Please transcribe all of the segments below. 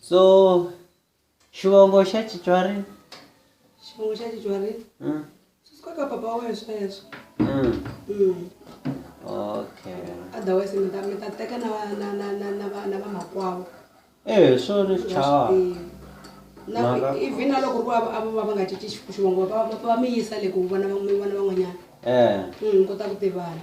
so xivongo xa titswari xivongo xa titswari mm. sisikoka papa wa wena sweswo mm. mm. okay otherwise mi ta mi ta teka na va na na na na va na va makwavo eh so ni chawa na even na loko ku ava va va nga cinci xivongo va va va mi yisa le ku vona va vona van'wanyana eh mm kota ku tivana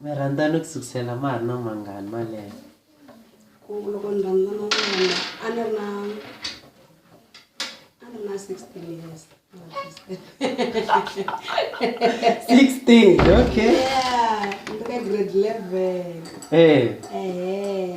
Mi rhandzane ku sukusela ma ha ri na mangani malembe? ku loko ni rhandzana na yena a ni ri na a ni ri na sixteen years Sixteen, okay. Yeah, ni ri ka grade eleven Eh, ehe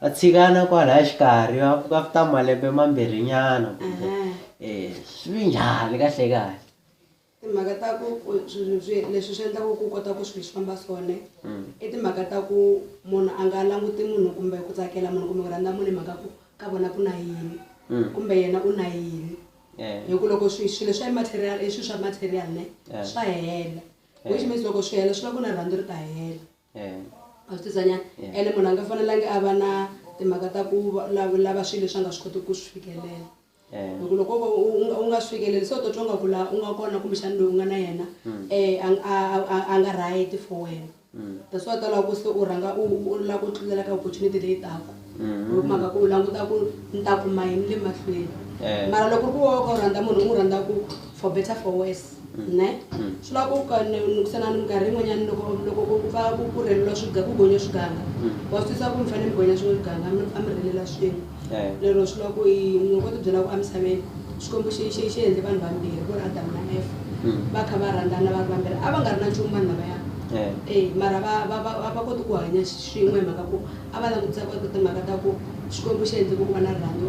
Va tshikana kwalaya xikarhi va pfuka after malembe mambirhinyana kumbe um swi vi njhani kahle kahle timhaka ta ku leswi swi endlaka ku kota ku swilo swi famba swone mm. i timhaka ta ku munhu a nga languti munhu kumbe ku tsakela munhu kumbe ku rhandza munhu hi mhaka ku ka vona ku na yini mm. kumbe yena u na yini hi ku loko swilo swa material i swilo swa material ne swa hela which means loko swi hela swi va ku na rhandzu ri ta hela ene munhu a nga fanelangi a va na timhaka ta ku lava swilo leswi a nga swi kotiki ku swi fikelela hi ku loko o ka u nga swi fikeleli se u ta twa nga ku laha u nga kona kumbexani loyi u nga na yena a nga right for wena that's why u ta lava ku se u rhanga u lava ku tlulela ka opportunity leyi taka. hi mhaka ku u languta ku ni ta kuma yini le mahlweni Eh. mara loko ku woka u rhandza munhu u n'wi rhandza ku for better for worse ne swi lava ku ka- ni- ni kusana ni minkarhi yin'wanyana loko loko ku ku pfa ku ku rheleliwa swiga ku gonya swiganga wa swi twisisa ku mi fanele mi gonya swin'we swiganga mi pfa mi rhelela swin'we Eh. lero swi lava ku i- ni ngo ti byela ku emisaveni xikwembu xi xi- xi endle vanhu vambirhi ku ri adamu na efa va kha va rhandzana va ri vambirhi a va nga ri na nchumu vanhu lavaya Eh. e mara va va- va- va va koti ku hanya Swin'we hi mhaka ku a va langutisa ku eka timhaka ta ku Xikwembu xi endle ku ku va na rirhandzu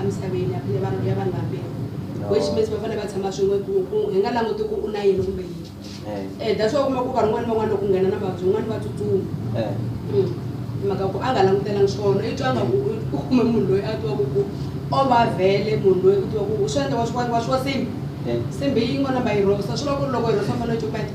emisaveni ya vanhu vambirhi, which means va fanele va tshama swin'we ku ku hi nga languti ku u na yini kumbe yini. E that's why u kuma ku vanhu van'wana ni van'wana loko ku nghena na mavabyi van'wana va tsutsuma hi mhaka ku a nga langutelanga swona. I twa nga ku u kume munhu loyi a tivaka ku o va vhele munhu loyi u tiva ku swi endla wa swi wa swi wa nsimbi, nsimbi yin'wana number yi rhosa swi vula ku ri loko yi rhosa u fanele u copeta.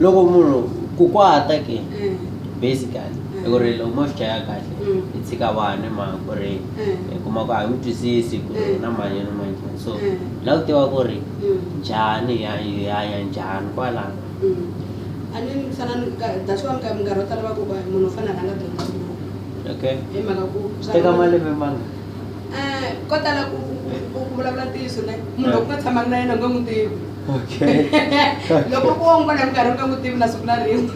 loko munhu ku kwata ke mm. basically mm. hi ku ri loko mo swi chaya kahle mm. hi tshika vanhu hi mhaka ku ri hi kuma ku a hi n'wi twisisi ku ri na manyelo manjhani so la ku tiva ku ri njhani hi hanya njhani kwalano a ni ni fana that's why minkarhi yo tala va ku munhu u fanele a rhanga dyondza okay hi mhaka ku teka malembe manga um eh, ko tala ku vulavula ntiyiso ne munhu loko nga tshamanga na yena u nge n'wi tivi loko ku wo n'wi vona minkarhi u nga n'wi tivi na siku na rin'we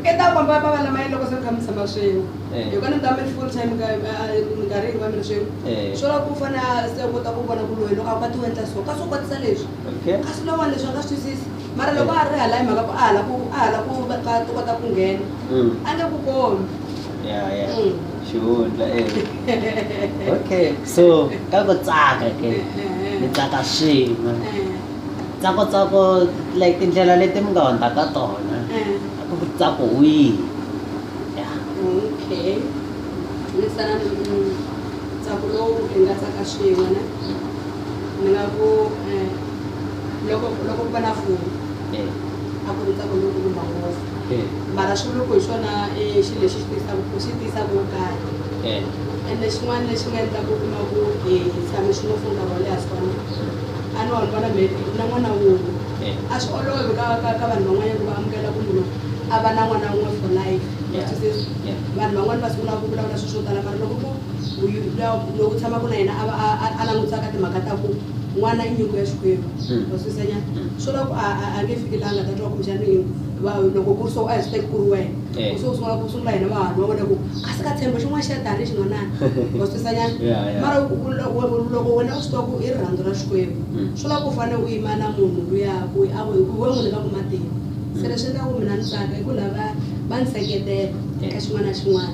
i ta komba va va lama yini loko se mi kha mi tshama swin'we eh. hi kona mi ta mi ri full time minkarhi hinkwayo mi ri swin'we eh. swo lava ku fana se u kota ku vona ku loyi loko a kwati wendla so kasi u kwatisa leswi kasi lowani leswi a nga swi twisisi mara loko a ri hala hi mhaka ku a hala ku a hala ku va kota ku nghena mm. a nge ku kombi ya ya xihundla e okay so ka ku tsaka ke mi tsaka swin'we tsako tsako like tindlela leti mi nga hundza ka tona a ku tsako wihi ya okay ni sana tsako lowu hi nga tsaka swin'we na ni nga ku loko loko ku va na foni a ku ri tsako lowu kumba ngopfu Eh. mara swi loko hi swona i xilo lexi xi tisaka ku xi tisaka wo karhi Eh. ende xin'wana lexi nga endlaka u kuma ku hi hi tshame swin'we for nkarhi wo leha swona a ni wona vona maybe na n'wana wun'we Eh. a swi olovi ka ka ka vanhu van'wanyana ku va amukela ku munhu a va na n'wana wun'we for life Yeah. Which is- Yeah. vanhu van'wana va sungula ku vulavula swilo swo tala mara loko ku uyu- luya- lowu tshamaka na yena a va a- a- a langutisa ka timhaka ta ku n'wana i nyiko ya xikwembu ma swi senya swi loko a a- a nge fiki laha nga ta twa kumbexani yini va loko ku ri so a hi swi teki ku ri wena Eh. so u sungula ku sungula hina vahanyi va vona ku kasi ka tshembo xin'wana xa tani xin'wanani ma swi swenyana Yeah, yeah. mara u- u- loko loko wena u swi twa ku i rirhandzu ra xikwembu Mm. swi lava u fanele u yima na munhu luya ku a ku hi ku we munhu ka ku matimba se leswi endlaku mina ni tsaka i ku lava va ni seketela ka xin'wana na xin'wana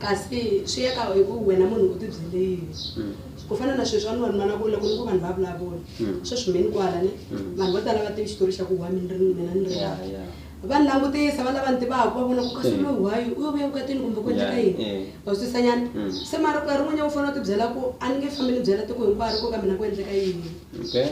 Kasi swi ya ka hi ku wena munhu u tibyele yini. Ku fana na sweswi van'wana mi vona ku loko ni ku vanhu va vulavula, sweswi mi ni kwala ne, vanhu vo tala a va tivi xitori xa ku why mi ni ri mina ni ri laha. Va ni langutisa, va lava ni tivaka va vona ku kasi loyi why, u yo vuya evukatini kumbe ku endleka yini. Wa swi twisisa nyana? Se mara nkarhi wun'wanyana u fanele u tibyela ku a ni nge fambi ni byela tiko hinkwaro ku ka mina ku endleka yini.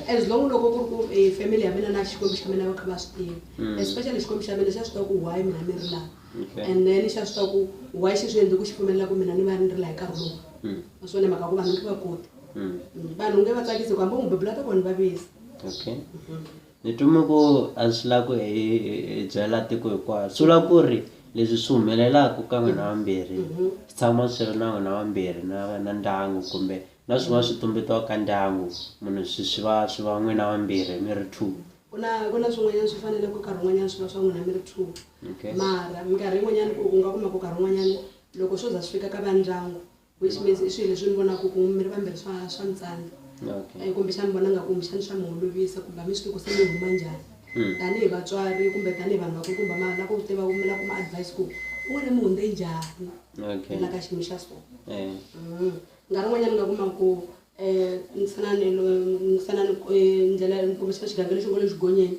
As long loko ku ri ku family ya mina na Xikwembu xa mina va kha va swi tiva, especially Xikwembu xa mina xa swi tiva ku why mina ni ri laha. Okay. and then xa swi tiva ku why xi swi endle ku xi pfumelela ku mina ni va ni ri laha hi nkarhi lowu Mm. a swi one mhaka ku vanhu nge va koti Mm. Mm, vanhu nge va tsakisi ku hambi u n'wi bebula ta kona va visa okay ni twime ku a swi la ku hi hi- hi byela tiko hinkwayo swi vula ku ri leswi swi humelelaka ka n'wina vambirhi swi tshama swi ri na n'wina vambirhi na na ndyangu kumbe na swin'wana swi tumbetiwa ka ndyangu munhu swi swi va swi va n'wina vambirhi mi ri two ku na ku na swin'wanyana swi fanele ku karhi un'wanyana swi va swa n'wina mi ri two Okay. mara minkarhi yin'wanyana u u nga kuma ku karhi un'wanyana loko swo za swi fika ka va ndyangu which means i swilo leswi ni vonaka ku mi ri vambirhi swa swa mi tsandza Okay. Eh, kumbe xani vona nga kumbe xani swa mi holovisa kumbe a mi swi tiku se mi huma njhani Mm. tanihi vatswari kumbe tanihi vanhu vakulu kumbe ma lava ku tiva mi lava kuma advice ku u wena mi hundze njhani Okay. la ka xiyimo xa so Eh. Mm. nkarhi un'wanyana u nga kuma ku Eh, mfananelo mfanano eh, ndlela nkomiso wa xigavelo xo ngo le xigonyeni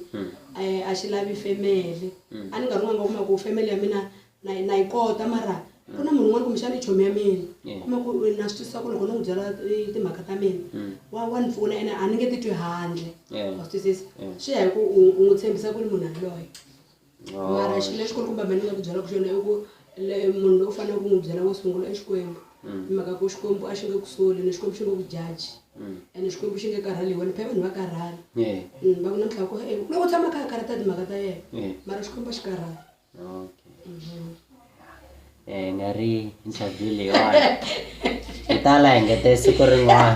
eh, a xi lavi femele a ni nkarhi un'wana nga kuma ku femele ya mina na yi- na yi kota mara ku na munhu un'wana kumbexana i chomi ya mina Yeah. kuma ku eh, na swi twisisa ku loko ni n'wi byela eh, timhaka ta mina wa wa ni pfuna ene a ni nge titwi handle Yeah. wa swi twisisa Yeah. swi ya hi ku u u n'wi tshembisa ku ri munhu yaloye mara xilo lexikulu kumbe me ni nga ku byelaka xona i ku le munhu lowu faneleke ku n'wi byela wo sungula i xikwembu mm. hi mhaka ku xikwembu a xi nge ku soli ni xikwembu xi nge ku jaji mm. ene xikwembu xi nge karhali hi wena phela vanhu va karhala mm, va ku na mtlhako e loko tshama kha a karhata timhaka ta yena mara xikwembu a xi karhali um nga ri interview leyiwani hi ta la hi ngete siku rin'wana